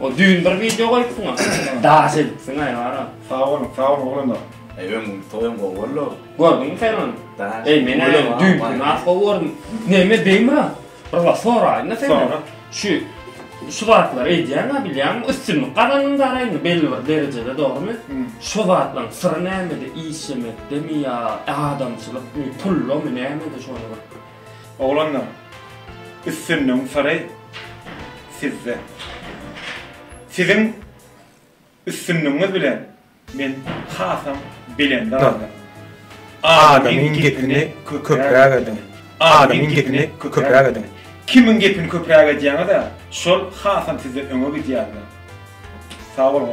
O düýn bir wideo goýupdyň-a. Daş edipsiň aýwara. Sag boluň, sag boluň oglanlar. Eý öň toýam gowy boldy. Gördüňmi sen ony? Eý men ony düýnki has gowy gördüm. Näme beýmira? Bir zat soraýyn-da senden. Sora. Şu şu zatlary edýäň-ä bilýäňmi? Üstünlik gazandyň dara indi belli bir derejede dogrumy? Şu zatlaryň syry nämede? Işlemekdemi ýa adamçylykmy, pullamy, nämede şony bir Oglanlar, üstünligiň syry sizde. Siziň üstünligiňiz bilen men hasam belende galdym. Adamyň gepini köpräk ediň. Adamyň gepini köpräk ediň. Kimiň gepini köpräk edýäňiz-ä, şol hasam sizden öňe gidýärler. Sag boluň.